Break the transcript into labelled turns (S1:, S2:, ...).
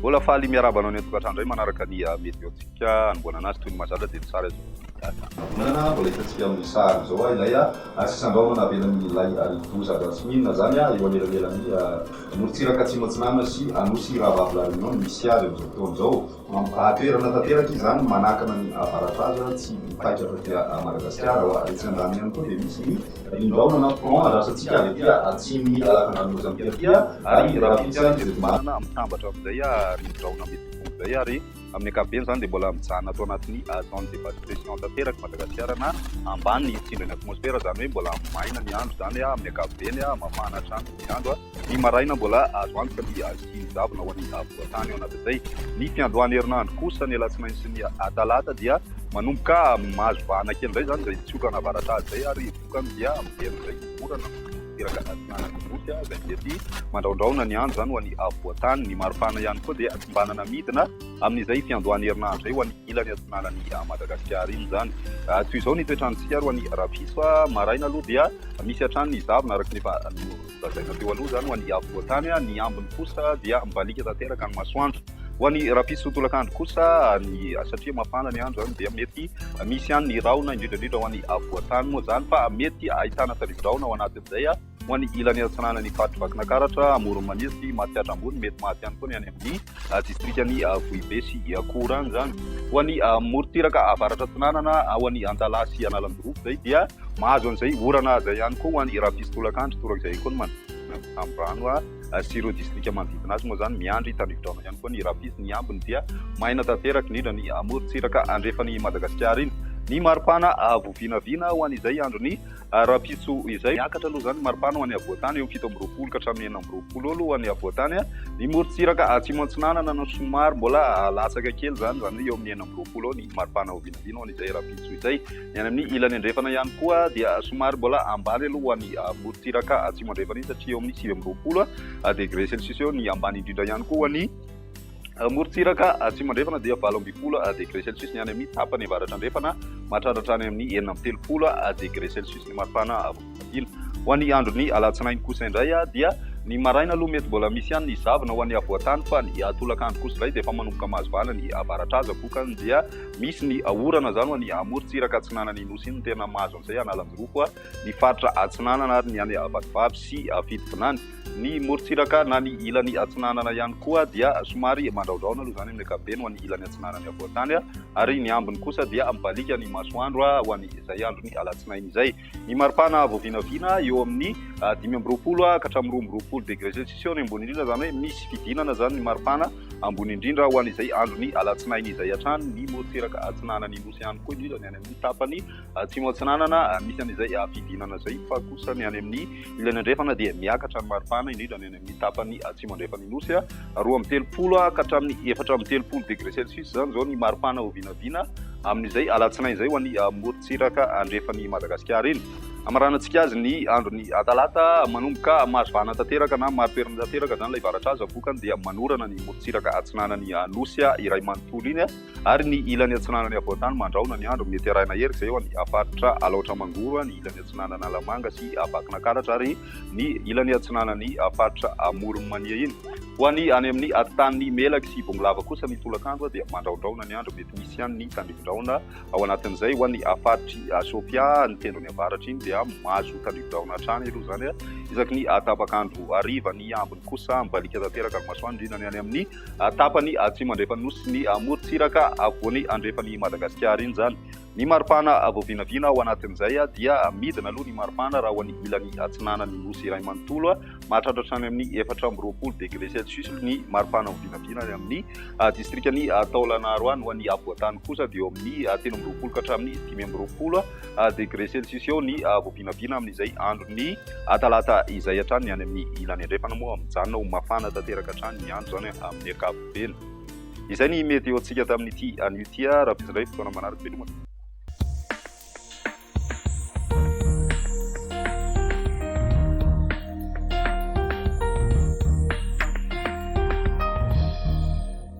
S1: Mbola faly miarahaba anao ny an-tokantrano indray manaraka ny ah, meteontsika anomboanana azy toy ny mazatra dia ny sary azo data. Manana
S2: mbola hitantsika amin'ny sary izao ah, ilay ah, sisan-drahona navelan'ny lay rivodoza avy atsimo inona izany ah, eo anelanelan'ny morontsiraka atsimo atsinanana sy Anosy Rahavavy La Réunion no misy azy amin'izao fotoana izao. Mampitaha-toerana tanteraka izany manakana ny avaradraza tsy mipaika avy aty a Madagasikara ho ary etsy andaniny ihany koa dia misy ny rindraona na front adrasantsika avy aty a atsimon'ny lalan-dranomaizan'i Pertia ary rahampitso ihany izay tomanana mitambatra
S1: amin'izay a rindraona mety ho tonga izay ary amin'ny ankapobeny izany dia mbola mijanona ato anatin'ny zone de basse pression tanteraka i Madagasikara na ambany tsindrin'ny atmosfera izany hoe mbola maina ny andro izany a amin'ny ankapobeny a mafana hatrany ny andro a. Ny maraina mbola azo antoka ny ahiahian'ny zavona ho an'ny afovoan-tany ao anatizay. Ny fiandohan'ny herinandro kosa, ny alatsinainy sy ny atalata, dia manomboka mahazo vahana kely indray izany izay tsiokana avaratra izay ary vokany dia miverina indray ny orana tanteraka atsinanana nosy izay mety mandraondraona ny andro izany ho an'ny afovoan-tany. Ny maripana ihany koa dia tsimbanana midina amin'izay fiandohan'ny herinandro izay ho an'ny ilany atsinanan'i Madagasikara iny izany. Toy izao ny toetr'andro tsika ary ho an'ny rapiso maraina aloha dia misy hatrany ny zavona araka ny efa Lazaina teo aloha izany ho an'ny avo voatany, ny ambiny kosa dia mibaliaka tanteraka ny masoandro. Ho an'ny rapiso tolakandro kosa, ny satria mafana ny andro izany dia mety misy ihany ny rahona, indrindra indrindra ho an'ny avo voatany moa izany fa mety ahitana tarivorahona ao anatin'izay ho an'ny ilany atsinanan'ny faritry Vakinakaratra, Amoron'i Maniry sy Matsiatra Ambony, mety maty ihany koa ny any amin'ny. distrikan'i Vohibe sy Iakora any izany. Ho an'ny morontsiraka avaratra atsinanana, ho an'i Antalaha sy Analanjirofo izay dia mahazo an'izay orana izay ihany koa. Ho an'i Rafiso Tolakandro torak'izay ihany koa ny manodidina ny Samborano sy ireo distrika manodidina azy moa izany miandry tandrifidraona ihany koa ny Rafiso. Ny ambiny dia maina tanteraka indrindra ny morontsiraka andrefan'i Madagasikara iny. Ny maripana voavinavina ho an'izay andron'ny. Ary rahampitso izay, miakatra aloha izany ny maripana ho an'ny havoantany eo amin'ny fito amby roapolo ka hatramin'ny enina amby roapolo eo aloha ho an'ny havoantany. Ny morontsiraka Atsimo Antsinanana no somary mbola latsaka kely izany, izany hoe eo amin'ny enina amby roapolo eo ny maripana ho vinavina ho an'izay rahampitso izay. Ny any amin'ny ilany andrefana ihany koa dia somary mbola ambany aloha ho an'ny morontsiraka Atsimo Andrefana iny satria eo amin'ny sivy amby roapolo degre celsius eo ny ambany indrindra ihany koa ho an'ny Morontsiraka atsimo andrefana dia valo ambin'ny folo degre celsius ny any amin'ny tapany avaratra andrefana, mahatratra hatrany amin'ny enina amby telopolo degre celsius ny maripana avy amin'ny fandriana. Ho an'ny andron'ny alatsinainy kosa indray dia ny maraina aloha mety mbola misy ihany ny zavona ho an'ny afovoan-tany fa ny tolakandro kosa indray dia efa manomboka mahazo vahana ny avaratra aza, vokany dia misy ny orana izany ho an'ny morontsiraka atsinanan'ny Nosy iny no tena mahazo an'izay, hanalan-jirofo ny faritra atsinanana ary ny any Vatovavy sy Fitovinany. Ny morontsiraka na ny ilany atsinanana ihany koa dia somary mandraodraona aloha izany amin'ny ankapobeny ho an'ny ilany atsinanan'ny havoantany ary ny ambiny kosa dia mibaliaka ny masoandro ho an'izay andron'ny alatsinainy izay. Ny maripana avo vinavina eo amin'ny dimy amby roapolo ka hatramin'ny roa amby roapolo degre selsisiao ny ambony indrindra izany hoe misy fidinana izany ny maripana ambony indrindra ho an'izay andron'ny alatsinainy izay hatrany ny morontsiraka atsinanan'ny nosy ihany koa indrindra ny any amin'ny tapany Atsimo Atsinanana, misy an'izay fidirana izay, fa kosa ny any amin'ny ilany andrefana dia miakatra ny maripana, indrindra ny any amin'ny tapany atsimo andrefan'ny Nosy, roa amby telopolo ka hatramin'ny efatra amby telopolo degré celsius izany izao ny maripana ho vinavina amin'izay alatsinainy izay ho an'ny morontsiraka andrefan'i Madagasikara iny. Hamaranantsika azy ny andron'ny talata, manomboka mahazoana tanteraka na marim-perina tanteraka izany ilay varatraza, vokany dia manorana ny morontsiraka atsinanan'ny Nosy iray manontolo iny. ary ny ilany atsinanan'i Avoatany Mandrahona ny andro, mety arahina erika izay eo an' ny faritra Alaotra Mangoro, ny ilany atsinanan'Alamanga sy Vakinankaratra ary ny ilany atsinanan'ny faritra Amoron'i Mania iny. Ho an'ny any amin' ny atintanin'i Melaky sy Bongolava kosa ny tolakandro dia mandrahondrahona ny andro, mety misy ihany ny tandindodrahona ao anatin'izay. Ho an'ny faritr'i Sofia, ny tendrony avaratra iny dia mahazo tandindodrahona hatrany aloha izany isaky ny tapakandro hariva, ny ambiny kosa mibaliaka tanteraka ny masoandro indrindra ny any amin' ny tapany atsimo andrefan'ny Nosy sy ny amorontsiraka afovoany andrefan'i Madagasikara iny izany. Ny maripana voavinavina ao anatin'izay dia midina aloha ny maripana raha ao an'ny ilany atsinanan'ny Nosy iray manontolo, mahatratra hatrany amin'ny efatra amby roapolo degre celsius ny maripana voavinavina any amin'ny distrikan'i Taolagnaro any, ho an'ny afovoantany kosa dia eo amin'ny telo amby roapolo ka hatramin'ny dimy amby roapolo degre celsius eo ny vao vinavina amin'izay andron'ny talata izay hatrany. Ny any amin'ny ilany andrefana moa mijanona ho mafana tanteraka hatrany ny andro, izany amin'ny ankapobeny. Izay ny meteontsika tamin'ity anio ity. Rahampitso indray fotoana manaraka, veloma.